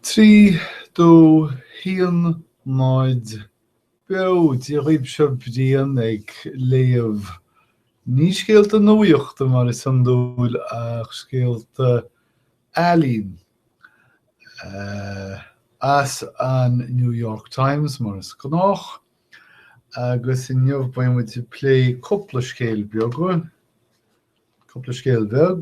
Trí dó, haon, náid, beo! Dia dhaoibh, seo Brian ag léamh, ní scéalta nuachta mar is iondúil, ach scéalta ealaíon as an New York Times mar is gnách, agus inniu beidh muid plé cúpla scéal beag, cúpla scéal beag,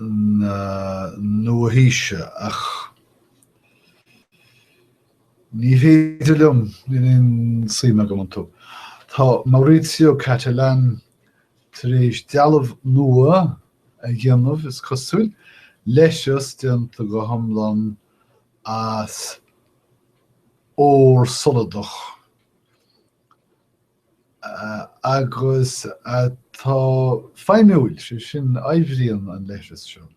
na nua-haoise, ach ní féidir liom, níl aon suim agam iontu. Tá Maurizio Cattelan tar éis dealbh nua a dhéanamh, is cosúil, leithreas déanta go hiomlán as ór soladach. agus tá feidhmiúil, sé sin, oibríonn an leithreas seo,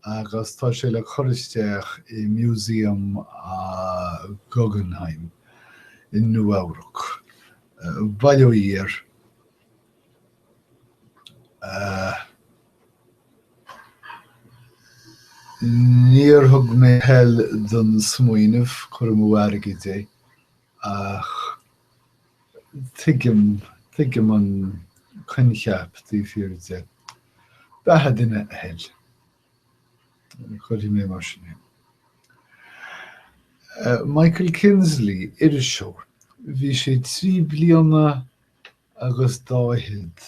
agus tá sé le cur isteach i Músaem Guggenheim i Nua-Eabhrac. Bail ó Dhia air. Níor thug mé toil don smaoineamh, cur amú airgid é. ach tuigim, tuigim an coincheap taobh thiar de. Beatha duine a thoil. Cuirfidh mé mar sin é. Eh, Michael Kinsley, iriseoir, bhí sé trí bliana agus dá fhichead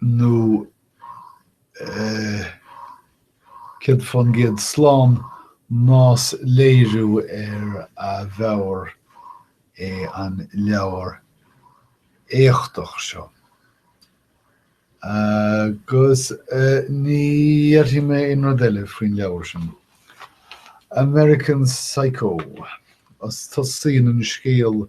nó céad fán gcéad slán nach léiriú ar a mheabhair é an leabhar éachtach seo. Agus ní dhéarfaidh mé aon rud eile faoin leabhar sin. American Psycho, os tosaíonn an scéal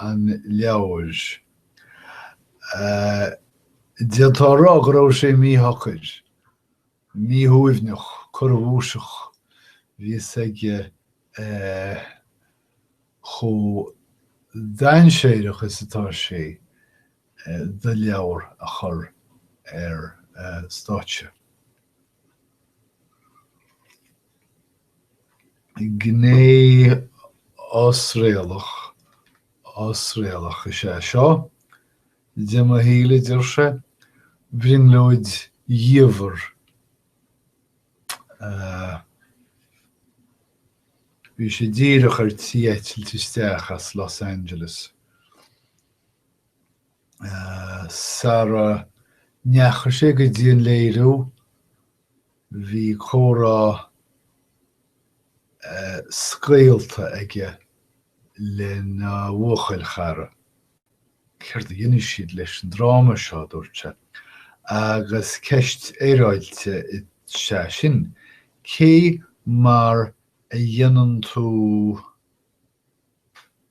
an leabhair. D'fhéadfá a rá go raibh sé míshocair, míshuaimhneach, corrabhuaiseach. Bhí fhios aige chomh dainséireach is atá sé dó leabhar a chur ar stáitse. Gné osréalach, osréalach is ea seo, de mo shaol, a deir sé, brionglóid dhiamhair a. Bhí sé díreach ar tí eitilt isteach as Los Angeles sara ndeachaigh sé go dtí an léiriú Bhí comhrá scaoilte aige lena bhuachaillchara. Céard a dhéanfaidh siad leis an dráma seo, a dúirt sé. Agus ceist fhéaráilte is ea sin, cé mar a dhéanann tú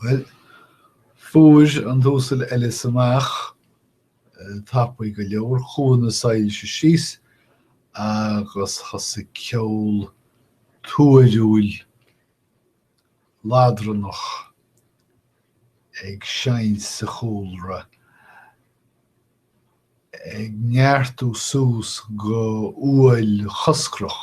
Bhuel, fuair an tUasal Ellis amach tapaidh go leor. Chuaigh na soilse síos agus thosaigh ceol tuairiúil ladranach ag seinnt sa chúlra, ag neartú suas go uaill choscrach.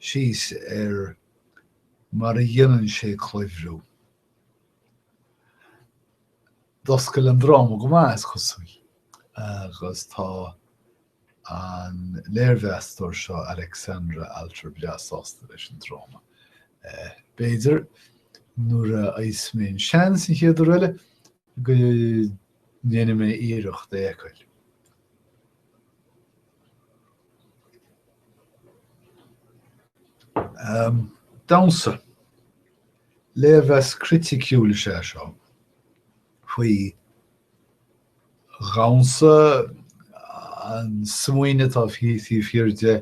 síos ar mar a dhéanann sé cluimhriú. D'oscail an dráma go maith, is cosúil, agus tá an léirmheastóir seo, Alexandra Alter, breá sásta leis an dráma. B'fhéidir, nuair a fhaigheas mé an seans an chéad uair eile, go ndéanfaidh mé iarracht é a fheiceáil. Damhsa, léirmheas criticiúil is ea seo faoi dhamhsa, an smaoineamh atá taobh thiar de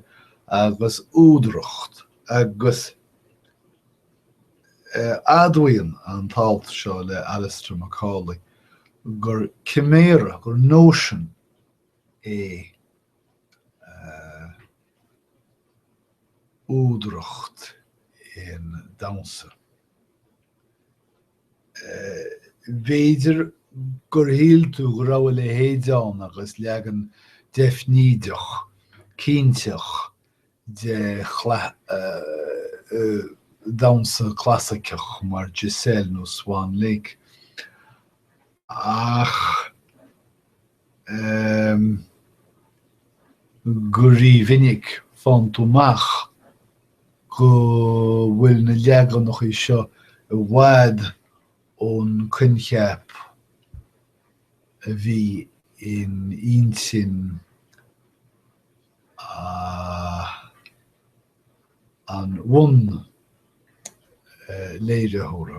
agus údaracht agus admhaíonn an t-alt seo le Alistair Macaulay gur ciméara, gur nóisean é údaracht aon damhsa. B'fhéidir gur shíl tú go raibh a leithéid ann agus leagan deifnídeach, cinnteach de dhamhsa clasaiceach mar Giselle nó Swan Lake, ach. eh go rímhinic faigheann tú amach go bhfuil na leaganachaí seo i bhfad ón gcoincheap a bhí in intinn an bhunléiritheora.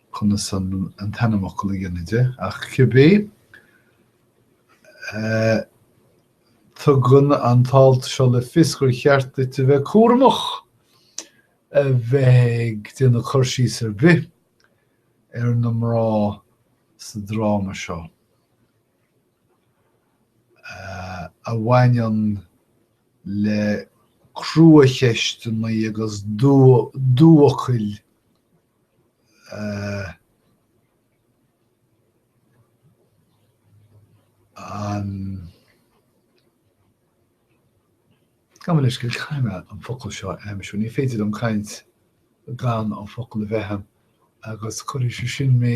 conas an t-ainmfhocal a dhéanamh de, ach cibé é, tugann an t-alt seo le fios gur cheart duit a bheith cúramach a bheith ag déanamh cur síos ar bith ar na mná sa dráma seo a bhaineann le cruacheisteanna agus dúfhocail. Gabh mo leithscéal, caithfidh mé an focal seo a aimsiú, ní féidir liom caint gan an focal a bheith a'm agus cuirfidh sé sin mé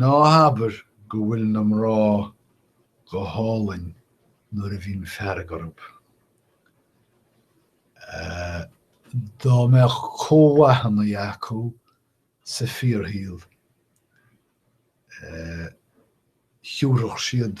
Ná habair go bhfuil na mná go hálainn nuair a bhíonn fearg orthu. Dá mbeadh cumhachtanna acu sa fíorshaol, thiúrfadh siad